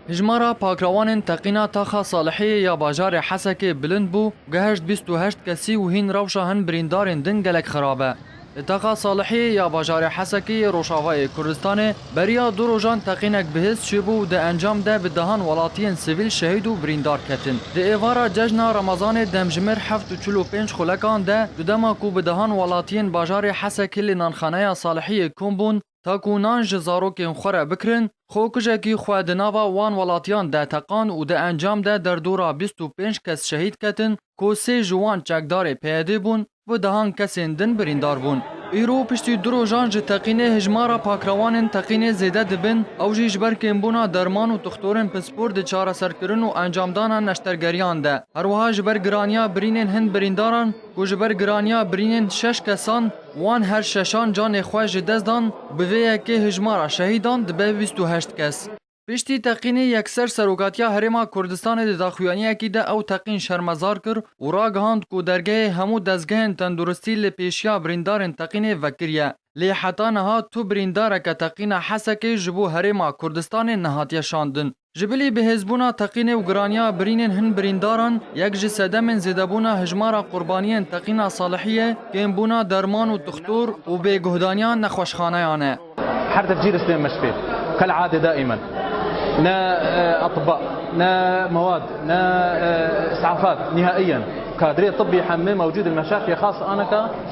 Hejmara pakrawanên teqîna taxa Salihiyê ya bajarê Hesekê bilind bû, gihişt bîst û heşt kesî û hîn rewşa hin birîndarên din gelek xirab e. Li taxa Salihiyê ya bajarê Hesekê yê Rojavayê Kurdistanê beriya du rojan teqînek bihêz çêbû û di encam de bi dehan welatiyên sivîl şehîd û birîndar ketin. Di êvara cejna Remezanê demjimêr heft û çil û pênc xulekan de, di dema ku bi dehan welatiyên bajarê Hesekê li nanxaneya Salihiyê kom bûn, Ta ku nan ji zarokên xwe re bikirin, xwekujekî xwe di nava wan welatiyan de teqand û di encam de derdora bîst û pênc kes şehîd ketin ku sê ji wan çekdarê PYD'ê bûn û dehan kesên din birîndar bûn. Îro piştî du rojan ji teqînê hijmara pakrewanên teqînê zêde dibin, ew jî ji ber kêmbûna derman û dixtorên pispor di çareserkirin û encamdana neştergeriyan de, herwiha ji ber giraniya birînên hin birîndaran ku ji ber giraniya birînên şeş kesan, Wan her şeşan canê xwe ji dest dan, bi vê yekê hijmara şehîdan dibe bîst û heşt kes. Piştî teqînê yekser Serokatiya Herêma Kurdistanê di daxuyaniyekî de ew teqîn şermezar kir û ragihand ku dergehê hemû dezgehên tenduristî li pêşiya birîndarên teqînê vekiriye. Lê heta niha tu birîndareke teqîna Hesekê ji bo Herêma Kurdistanê nehatiye şandin. Ji bilî bihêzbûna teqînê û giraniya birînên hin birîndaran, yek ji sedemên zêdebûna hejmara qurbaniyên teqîna Salihiyê, kêmbûna derman û dixtor û bêguhdaniya nexweşxaneyan e. Her dev cîr Sliman Meşfê kal adê daimen ne atiba, ne mewad, ne isafat nihaiyen kadrê tibbî hemê mewcûd li Meşafê xas aneka.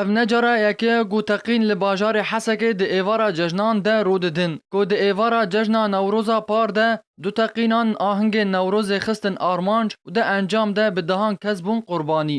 Ev ne cara yekê ye ku teqîn li bajarê Hesekê di êvara cejnan de rû didin. Ku di êvara cejna Newroza par de du teqînan ahingên Newrozê xistin armanc û di encam de bi dehan kes bûn qurbanî.